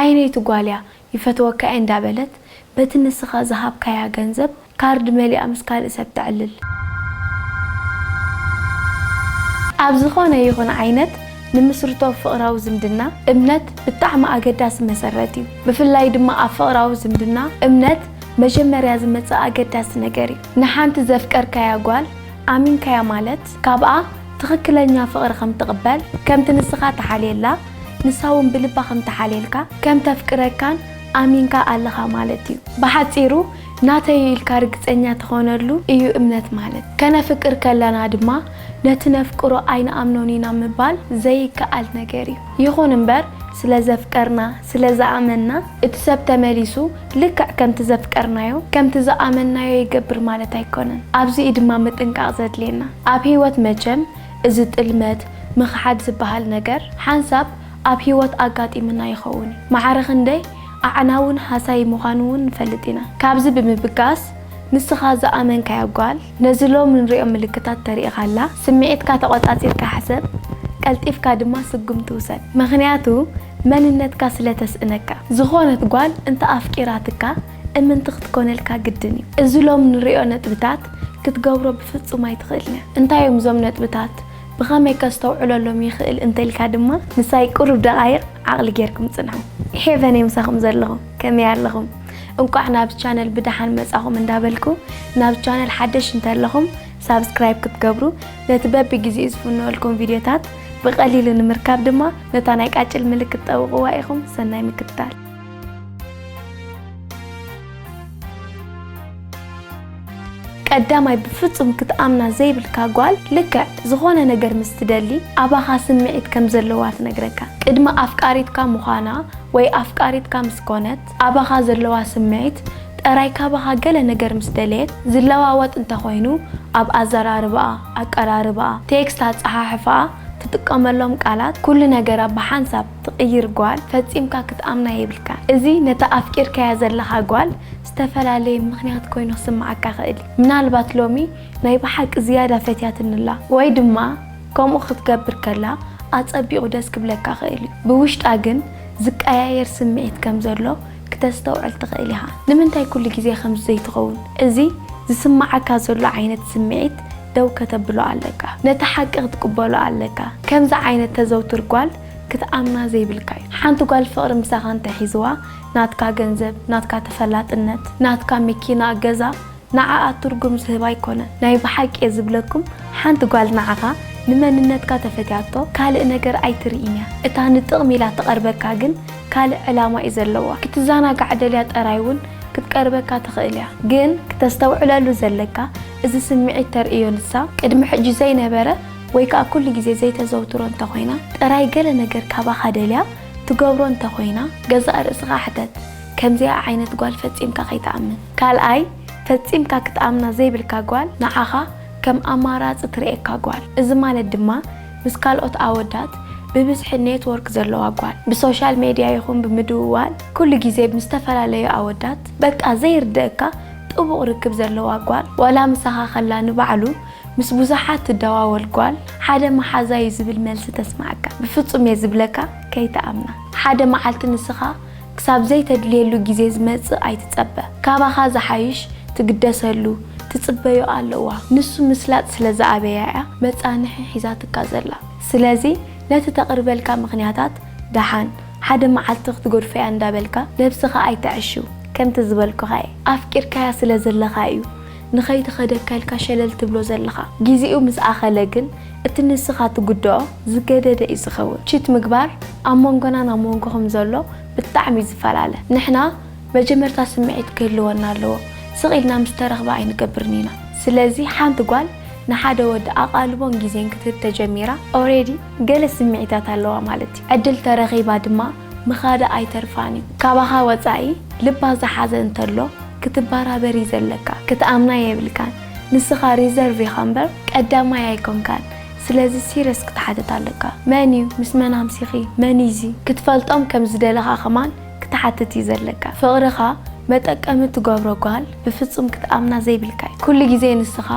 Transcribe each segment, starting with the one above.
ኣይነይቲ ጓልያ ይፈትወካ'የ እንዳበለት በቲ ንስኻ ዝሃብካያ ገንዘብ ካርድ መሊኣ ምስ ካልእ ሰብ ተዕልል። ኣብ ዝኾነ ይኹን ዓይነት ንምስርቶ ፍቕራዊ ዝምድና እምነት ብጣዕሚ ኣገዳሲ መሰረት እዩ። ብፍላይ ድማ ኣብ ፍቕራዊ ዝምድና እምነት መጀመርያ ዝመጽእ ኣገዳሲ ነገር እዩ። ንሓንቲ ዘፍቀርካያ ጓል ኣሚንካያ ማለት ካብኣ ትኽክለኛ ፍቕሪ ከም ትቕበል፣ ከምቲ ንስኻ ትሓልየላ ንሳ'ውን ብልባ ከም ትሓልየልካ፣ ከም ተፍቅረካን ኣሚንካ ኣለኻ ማለት እዩ። ብሓጺሩ ናተይ'ዩ ኢልካ ርግጸኛ ትኾነሉ እዩ እምነት ማለት። ከነፍቅር ከለና ድማ ነቲ ነፍቅሮ ኣይንኣምኖን ኢና ምባል ዘይከኣል ነገር እዩ። ይኹን እምበር ስለ ዘፍቀርና፣ ስለ ዝኣመንና እቲ ሰብ ተመሊሱ ልክዕ ከምቲ ዘፍቀርናዮ ከምቲ ዝኣመንናዮ ይገብር ማለት ኣይኮነን ኣብዚ እዩ ድማ ምጥንቃቅ ዘድልየና ኣብ ሂወት መቸም እዚ ጥልመት ምኽሓድ ዝባሃል ነገር ሓንሳብ ኣብ ሂወት ኣጋጢምና ይኸውን እዩ ማዕረ ክንደይ ኣዕናውን ሃሳዪ ምዃኑ ውን ንፈልጥ ኢና ካብዚ ብምብጋስ ንስኻ ዝኣመንካያ ጓል ነዚ ሎሚ ንሪኦ ምልክታት ተሪኢኻላ ስሚዒትካ ተቆጻጺርካ ሕሰብ ቀልጢፍካ ድማ ስጉምቲ ውሰድ ምኽንያቱ መንነትካ ስለ ተስእነካ። ዝኾነት ጓል እንተ ኣፍቂራትካ እምንቲ ክትኮነልካ ግድን እዩ። እዚ ሎሚ ንርእዮ ነጥብታት ክትገብሮ ብፍጹም ኣይትኽእልንያ። እንታይ እዮም እዞም ነጥብታት? ብኸመይ ከስተውዕለሎም ይኽእል እንተልካ ድማ ምሳይ ቅሩብ ደቓይቕ ዓቕሊ ጌርኩም ጽንሑ። ሄቨን እየ ምሳኹም ዘለኹ። ከመይ ኣለኹም? እንቋዕ ናብዚ ቻነል ብደሓን መጻኹም እንዳበልኩ ናብዚ ቻነል ሓደሽ እንተለኹም ሳብስክራይብ ክትገብሩ ነቲ በብግዜኡ ዝፍነወልኩም ቪድዮታት ብቐሊሉ ንምርካብ ድማ ነታ ናይ ቃጭል ምልክት ጠውቕዋ ኢኹም። ሰናይ ምክትታል። ቀዳማይ ብፍጹም ክትኣምና ዘይብልካ ጓል ልክዕ ዝኾነ ነገር ምስ ትደሊ ኣባኻ ስምዒት ከም ዘለዋ ትነግረካ። ቅድሚ ኣፍቃሪትካ ምዃና ወይ ኣፍቃሪትካ ምስ ኮነት፣ ኣባኻ ዘለዋ ስምዒት ጠራይ ካባኻ ገለ ነገር ምስ ደለየት ዝለዋወጥ እንተ ኾይኑ ኣብ ኣዘራርባኣ፣ ኣቀራርባኣ፣ ቴክስት ኣጸሓሕፋኣ፣ ትጥቀመሎም ቃላት ኩሉ ነገራ ብሓንሳብ ትቕይር ጓል ፈጺምካ ክትኣምና የብልካን። እዚ ነታ ኣፍቂርካያ ዘለኻ ጓል ዝተፈላለየ ምኽንያት ኮይኑ ክስምዓካ ይኽእል እዩ። ምናልባት ሎሚ ናይ ብሓቂ ዝያዳ ፈትያትኒ ኣላ ወይ ድማ፣ ከምኡ ክትገብር ከላ ኣጸቢቑ ደስ ክብለካ ክእል እዩ፣ ብውሽጣ ግን ዝቀያየር ስምዒት ከም ዘሎ ክተስተውዕል ትኽእል ኢኻ። ንምንታይ ኩሉ ግዜ ከምዚ ዘይትኸውን? እዚ ዝስምዓካ ዘሎ ዓይነት ስምዒት ደው ከተብሎ ኣለካ። ነቲ ሓቂ ክትቅበሎ ኣለካ። ከምዚ ዓይነት ተዘውትር ጓል ክትኣምና ዘይብልካ እዩ። ሓንቲ ጓል ፍቕሪ ምሳኻ እንተሒዝዋ ናትካ ገንዘብ፣ ናትካ ተፈላጥነት፣ ናትካ መኪና፣ ገዛ፣ ንዓኣ ትርጉም ዝህባ ኣይኮነን ናይ ብሓቂ እየ ዝብለኩም ሓንቲ ጓል ንዓኻ ንመንነትካ ተፈትያቶ ካልእ ነገር ኣይትርኢን እያ እታ ንጥቕሚ ኢላ ትቐርበካ ግን ካልእ ዕላማ እዩ ዘለዋ ክትዛናጋዕ ደልያ ጠራይ ውን ክትቀርበካ ትኽእል እያ ግን ክተስተውዕለሉ ዘለካ እዚ ስምዒት ተርእዮ ንሳ ቅድሚ ሕጂ ዘይነበረ ወይ ከኣ ኩሉ ግዜ ዘይተዘውትሮ እንተ ኮይና ጥራይ ገለ ነገር ካባኻ ደልያ ትገብሮ እንተ ኮይና ገዛእ ርእስኻ ሕተት ከምዚኣ ዓይነት ጓል ፈጺምካ ከይትኣምን። ካልኣይ ፈጺምካ ክትኣምና ዘይብልካ ጓል ንዓኻ ከም ኣማራጺ ትርእየካ ጓል እዚ ማለት ድማ ምስ ካልኦት ኣወዳት ብብዝሒ ኔትዎርክ ዘለዋ ጓል ብሶሻል ሜድያ ይኹን ብምድውዋል ኩሉ ግዜ ምስ ዝተፈላለዩ ኣወዳት በቃ ዘይርደኣካ ጥቡቕ ርክብ ዘለዋ ጓል ዋላ ምሳኻ ከላ ንባዕሉ ምስ ብዙሓት ትደዋወል ጓል ሓደ መሓዛ'ዩ ዝብል መልሲ ተስምዓካ ብፍጹም'የ ዝብለካ ከይትኣምና ሓደ መዓልቲ ንስኻ ክሳብ ዘይተድልየሉ ግዜ ዝመጽእ ኣይትጸበ። ካባኻ ዝሓይሽ ትግደሰሉ ትጽበዮ ኣለዋ። ንሱ ምስላጥ ስለ ዝኣበያ'ያ መጻንሒ ሒዛትካ ዘላ። ስለዚ ነቲ ተቕርበልካ ምኽንያታት ደሓን ሓደ መዓልቲ ክትገድፎ'ያ እንዳበልካ ነብስኻ ኣይተዕሽው። ከምቲ ዝበልኩኻ'የ ኣፍቂርካያ ስለ ዘለኻ'ዩ። ንኸይተኸደካ ኢልካ ሸለል ትብሎ ዘለኻ። ጊዚኡ ምስ ኣኸለ ግን እቲ ንስኻ ትጉድኦ ዝገደደ እዩ ዝኸውን። ቺት ምግባር ኣብ ሞንጎናን ኣብ ሞንጎኹም ዘሎ ብጣዕሚ እዩ ዝፈላለ። ንሕና መጀመርታ ስምዒት ክህልወና ኣለዎ ስቕ ኢልና ምስ ተረኽበ ኣይንገብርን ኢና። ስለዚ ሓንቲ ጓል ንሓደ ወዲ ኣቓልቦን ጊዜን ክትህብ ተጀሚራ ኦሬዲ ገለ ስምዒታት ኣለዋ ማለት እዩ። ዕድል ተረኺባ ድማ ምኻዳ ኣይተርፋን እዩ ካባኻ ወጻኢ ልባ ዝሓዘ እንተሎ ክትባራበር እዩ ዘለካ ክትኣምና የብልካን ንስኻ ሪዘርቭ ኢኻ እምበር ቀዳማይ ኣይኮንካን ስለዚ ሲረስ ክትሓተት ኣለካ መን እዩ ምስ መን ኣምሲኺ መን እዩ እዚ ክትፈልጦም ከም ዝደለኻ ከማን ክትሓትት እዩ ዘለካ ፍቅርኻ መጠቀሚ ትገብሮ ጓል ብፍጹም ክትኣምና ዘይብልካ እዩ ኩሉ ግዜ ንስኻ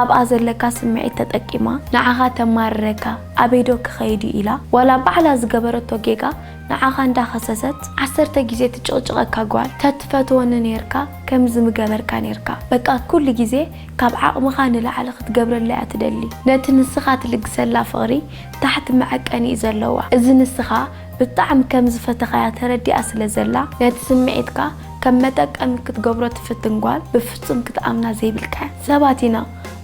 ኣብኣ ዘለካ ስምዒት ተጠቂማ ንዓኻ ተማርረካ ኣበይ ዶ ክኸይድ እዩ ኢላ ዋላ ባዕላ ዝገበረቶ ጌጋ ንዓኻ እንዳ ከሰሰት ዓሰርተ ግዜ ትጭቕጭቐካ ጓል ተትፈትወኒ ኔርካ ከምዚ ምገበርካ ኔርካ በቃ ኩሉ ግዜ ካብ ዓቕምኻ ንላዕሊ ክትገብረላ እያ ትደሊ ነቲ ንስኻ ትልግሰላ ፍቕሪ ታሕቲ መዐቀኒ እዩ ዘለዋ እዚ ንስኻ ብጣዕሚ ከም ዝፈተኻያ ተረዲኣ ስለ ዘላ ነቲ ስምዒትካ ከም መጠቀሚ ክትገብሮ ትፍትን ጓል ብፍጹም ክትኣምና ዘይብልካ ሰባት ኢና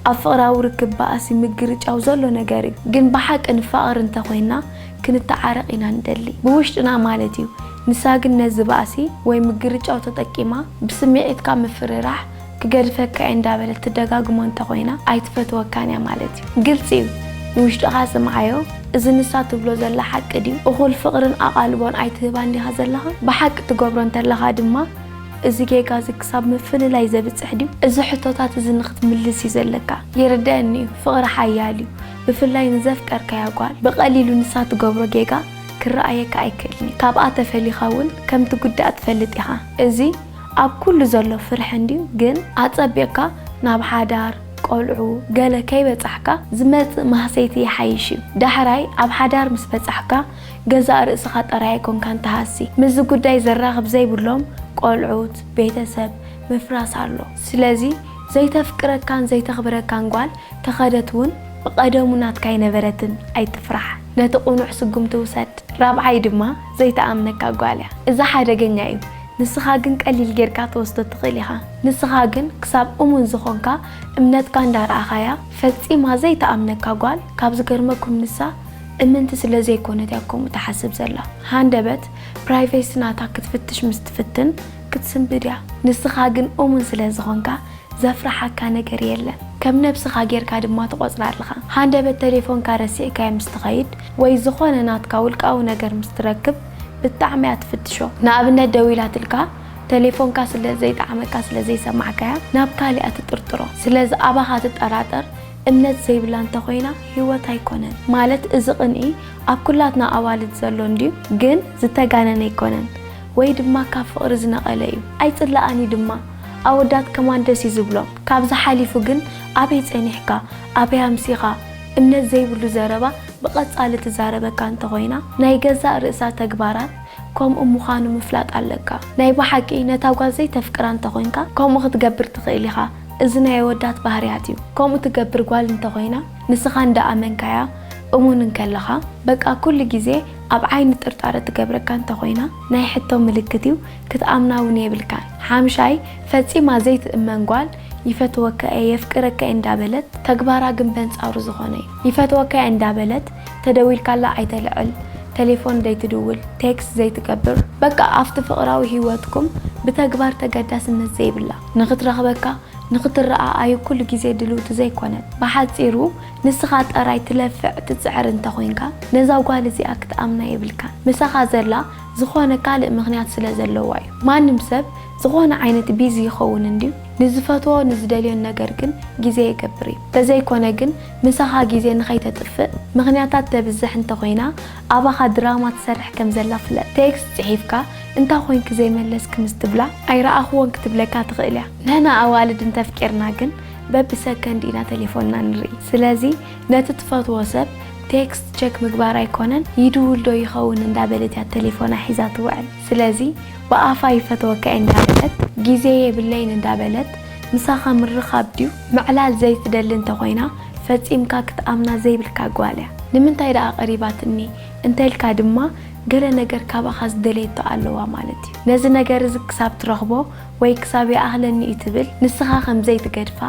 ኣብ ፍቅራዊ ርክብ ባእሲ ምግርጫው ዘሎ ነገር እዩ ግን ብሓቂ ንፋቀር እንተ ኮይና ክንታዓረቅ ኢና ንደሊ ብውሽጥና ማለት እዩ ንሳ ግን ነዚ ባእሲ ወይ ምግርጫው ተጠቂማ ብስሚዒትካ ምፍርራሕ ክገድፈካ እየ እንዳበለት ትደጋግሞ እንተ ኮይና ኣይትፈትወካን እያ ማለት እዩ ግልጺ እዩ ንውሽጥካ ስምዓዮ እዚ ንሳ ትብሎ ዘላ ሓቂ ድዩ እኩል ፍቅርን ኣቃልቦን ኣይትህባን ዲካ ዘለካ ብሓቂ ትገብሮ እንተለካ ድማ እዚ ጌጋ እዚ ክሳብ ምፍልላይ ዘብጽሕ ድዩ? እዚ ሕቶታት እዚ ንኽትምልስ እዩ ዘለካ። ይርደኣኒ እዩ ፍቕሪ ሓያል እዩ ብፍላይ ንዘፍቀርካያ ጓል። ብቐሊሉ ንሳ ትገብሮ ጌጋ ክረኣየካ ኣይክእልን እዩ። ካብኣ ተፈሊኻ እውን ከም ትጉዳእ ትፈልጥ ኢኻ። እዚ ኣብ ኩሉ ዘሎ ፍርሒ እንድዩ ግን ኣጸቢቕካ ናብ ሓዳር፣ ቆልዑ፣ ገለ ከይበጻሕካ ዝመጽእ ማህሰይቲ ይሓይሽ እዩ። ዳሕራይ ኣብ ሓዳር ምስ በጻሕካ ገዛእ ርእስኻ ጥራይ ኣይኮንካን ትሃሲ፣ ምስዚ ጉዳይ ዘራኽብ ዘይብሎም ቆልዑት፣ ቤተሰብ፣ ምፍራስ ኣሎ። ስለዚ ዘይተፍቅረካን ዘይተኽብረካን ጓል ተኸደት እውን ብቐደሙ ናትካ ኣይነበረትን ኣይትፍራሕ ነቲ ቁኑዕ ስጉምቲ ውሰድ። ራብዓይ ድማ ዘይትኣምነካ ጓል እያ። እዚ ሓደገኛ እዩ ንስኻ ግን ቀሊል ጌርካ ትወስዶ ትኽእል ኢኻ። ንስኻ ግን ክሳብ እሙን ዝኾንካ እምነትካ እንዳረኣኻያ ፈጺማ ዘይትኣምነካ ጓል ካብ ዝገርመኩም ንሳ እምንቲ ስለ ዘይኮነት እያ ከምኡ ትሓስብ ዘላ። ሃንደበት ፕራይቬሲ ናታ ክትፍትሽ ምስ ትፍትን ክትስንብድ እያ። ንስኻ ግን እሙን ስለ ዝኾንካ ዘፍርሓካ ነገር የለን። ከም ነብስኻ ጌርካ ድማ ትቖጽራ ኣለኻ። ሃንደበት ተሌፎንካ ረሲዕካዮ ምስ ትኸይድ ወይ ዝኾነ ናትካ ውልቃዊ ነገር ምስ ትረክብ ብጣዕሚ እያ ትፍትሾ። ንኣብነት ደዊላትልካ ተሌፎንካ ስለ ዘይጠዓመካ ስለ ዘይሰማዕካያ ናብ ካልእ እያ ትጥርጥሮ። ስለዚ ኣባኻ ትጠራጠር እምነት ዘይብላ እንተ ኮይና ሂወት ኣይኮነን ማለት እዚ ቅንኢ ኣብ ኩላትና ኣዋልድ ዘሎ እንድዩ ግን ዝተጋነነ ኣይኮነን ወይ ድማ ካብ ፍቅሪ ዝነቀለ እዩ ኣይጽላኣን እዩ ድማ ኣወዳት ከማን ደስ እዩ ዝብሎም ካብዚ ሓሊፉ ግን ኣበይ ጸኒሕካ ኣበይ ኣምሲካ እምነት ዘይብሉ ዘረባ ብቀጻሊ ትዛረበካ እንተ ኮይና ናይ ገዛእ ርእሳ ተግባራት ከምኡ ምኳኑ ምፍላጥ ኣለካ ናይ ብሓቂ ነታ ጓል ዘይተፍቅራ እንተ ኮንካ ከምኡ ክትገብር ትክእል ኢካ እዚ ናይ ኣወዳት ባህርያት እዩ ከምኡ ትገብር ጓል እንተኾይና ንስኻ እንዳኣመንካያ እሙን እንከለኻ በቃ ኩሉ ግዜ ኣብ ዓይኒ ጥርጣረ ትገብረካ እንተኾይና ናይ ሕቶ ምልክት እዩ ክትኣምና ውን የብልካን ሓምሻይ ፈጺማ ዘይትእመን ጓል ይፈትወካ እየ የፍቅረካ እየ እንዳበለት ተግባራ ግን በንጻሩ ዝኾነ እዩ ይፈትወካ እየ እንዳበለት ተደዊልካላ ኣይተልዕል ተሌፎን ዘይትድውል ቴክስት ዘይትገብር በቃ ኣብቲ ፍቕራዊ ሂወትኩም ብተግባር ተገዳስነት ዘይብላ። ንኽትረኽበካ ንኽትረኣኣዩ ኩሉ ግዜ ድልውቲ ዘይኮነት። ብሓጺሩ ንስኻ ጠራይ ትለፍዕ ትጽዕር እንተ ኮንካ ነዛ ጓል እዚኣ ክትኣምና የብልካን። ምሳኻ ዘላ ዝኾነ ካልእ ምኽንያት ስለ ዘለዋ እዩ። ማንም ሰብ ዝኾነ ዓይነት ቢዚ ይኸውን እንድዩ ንዝፈትዎ ንዝደልዮን ነገር ግን ግዜ የገብር እዩ። ተዘይኮነ ግን ምሳኻ ግዜ ንኸይተጥፍእ ምኽንያታት ተብዝሕ እንተ ኮይና ኣባኻ ድራማ ትሰርሕ ከም ዘላ ፍለጥ። ቴክስት ጽሒፍካ እንታይ ኮንኪ ዘይመለስኪ ምስ ትብላ ኣይረኣኹዎን ክትብለካ ትኽእል እያ። ንሕና ኣዋልድ እንተ ኣፍቂርና ግን በብሰከንድ ኢና ተሌፎንና ንርኢ። ስለዚ ነቲ ትፈትዎ ሰብ ቴክስት ቸክ ምግባር ኣይኮነን ይድውል ዶ ይኸውን እንዳበለት እያ ተሌፎና ሒዛ ትውዕል። ስለዚ ብኣፋ ይፈትወካ'የ እንዳበለት ግዜ የብለይን እንዳበለት ምሳኻ ምርኻብ ድዩ? ምዕላል ዘይትደሊ እንተ ኮይና ፈጺምካ ክትኣምና ዘይብልካ ጓል እያ። ንምንታይ ደኣ ቀሪባትኒ እንተ ኢልካ ድማ ገለ ነገር ካባኻ ዝደለየቶ ኣለዋ ማለት እዩ። ነዚ ነገር እዚ ክሳብ ትረኽቦ ወይ ክሳብ ይኣኽለኒ እዩ ትብል፣ ንስኻ ከም ዘይትገድፋ፣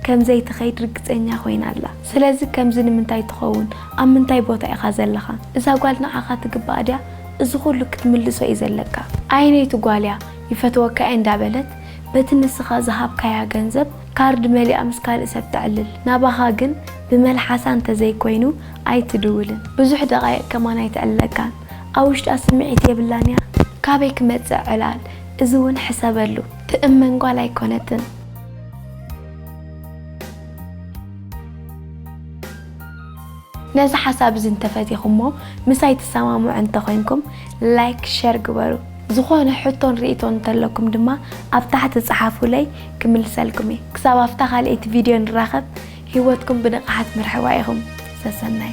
ከም ዘይትኸይድ ርግጸኛ ኮይና ኣላ። ስለዚ ከምዚ ንምንታይ ትኸውን? ኣብ ምንታይ ቦታ ኢኻ ዘለኻ? እዛ ጓል ንዓኻ ትግባኣ ድያ? እዚ ኩሉ ክትምልሶ እዩ ዘለካ። ኣየነይቲ ጓል እያ ይፈትወካ እየ እንዳበለት በቲ ንስኻ ዝሃብካያ ገንዘብ፣ ካርድ መሊኣ ምስ ካልእ ሰብ ተዕልል ናባኻ ግን ብመልሓሳ እንተዘይኮይኑ ኣይትድውልን ብዙሕ ደቓይቕ ከማን ኣይተዕልለካን ኣብ ውሽጣ ስምዒት የብላን እያ ካበይ ክመጽእ ዕላል እዚ ውን ሕሰበሉ ትእመን ጓል ኣይኮነትን። ነዚ ሓሳብ እዚ እንተፈቲኹሞ ምሳይ ትሰማምዑ እንተኾይንኩም ላይክ ሸር ግበሩ። ዝኾነ ሕቶን ሪኢቶን እንተለኩም ድማ ኣብ ታሕቲ ጸሓፉለይ ክምልሰልኩም እየ። ክሳብ ኣብታ ካልኣይቲ ቪድዮ ንራኸብ ሂወትኩም ብንቕሓት ምርሕዋ ኢኹም። ሰሰናዩ።